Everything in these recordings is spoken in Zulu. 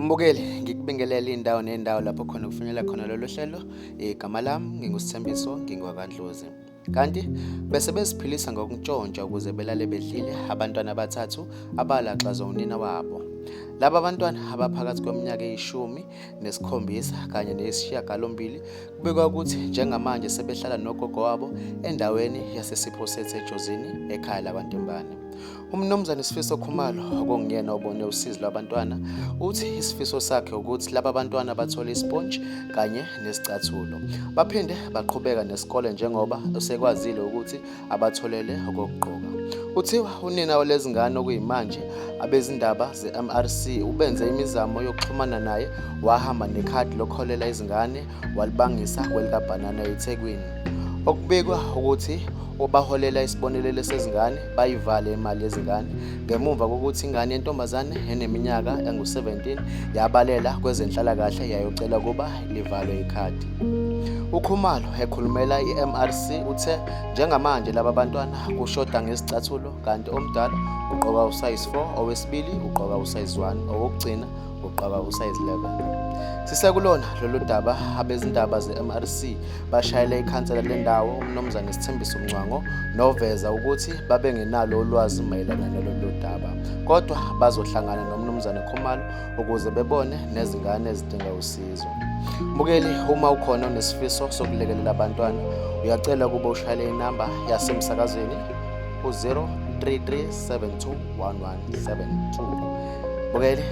Mbukeli ngikubingelele indawo nendawo lapho khona kufinyela khona lolu hlelo igama lami ngingusithembiso ngingwakandlozi kanti bese beziphilisa ngokuntshontsha ukuze belale bedlile abantwana abathathu abalaxazwa unina wabo laba bantwana abaphakathi kweminyaka eyishumi nesikhombisa kanye neyisishiyagalombili kubekwa ukuthi njengamanje sebehlala nogogo wabo endaweni yasesiphosethi ejozini ekhaya lakwantembane umnumzane isifiso khumalo okunguyena obone usizi lwabantwana uthi isifiso sakhe ukuthi laba bantwana bathole isponji kanye nesicathulo baphinde baqhubeka nesikole njengoba usekwazile ukuthi abatholele okokugqoka. Kuthiwa unina walezi ngane okuyimanje abezindaba ze-MRC ubenze imizamo yokuxhumana naye wahamba nekhadi lokholela izingane walibangisa kwelikabhanana eThekwini. Okubikwa ukuthi obaholela isibonelelo sezingane bayivale imali yezingane ngemuva kokuthi ingane yentombazane eneminyaka engu-17 yabalela kwezenhlalakahle yayocela ukuba livalwe ikhadi. UKhumalo ekhulumela i-MRC uthe njengamanje laba bantwana kushoda ngezicathulo kanti omdala ugqoka usize 4, owesibili ugqoka usize 1, owokugcina ugqoka usize 11. Sisekulona lolu daba abezindaba ze-MRC bashayele ikhansela lendawo uMnumzane Sithembiso Mncwango noveza ukuthi babengenalo ulwazi mayelana nalolu daba kodwa bazohlangana noMnumzane Khumalo ukuze bebone nezingane ezidinga usizo. Mbukeli, uma ukhona onesifiso sokulekelela abantwana, uyacela ukuba ushayele inamba yasemsakazweni u-033721172. Mbukeli,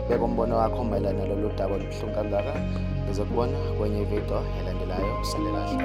beka umbono wakho mayelana nalolu daba olubuhlungu kangaka. Ngizokubona kwenye ividiyo elandelayo. Usale kahle.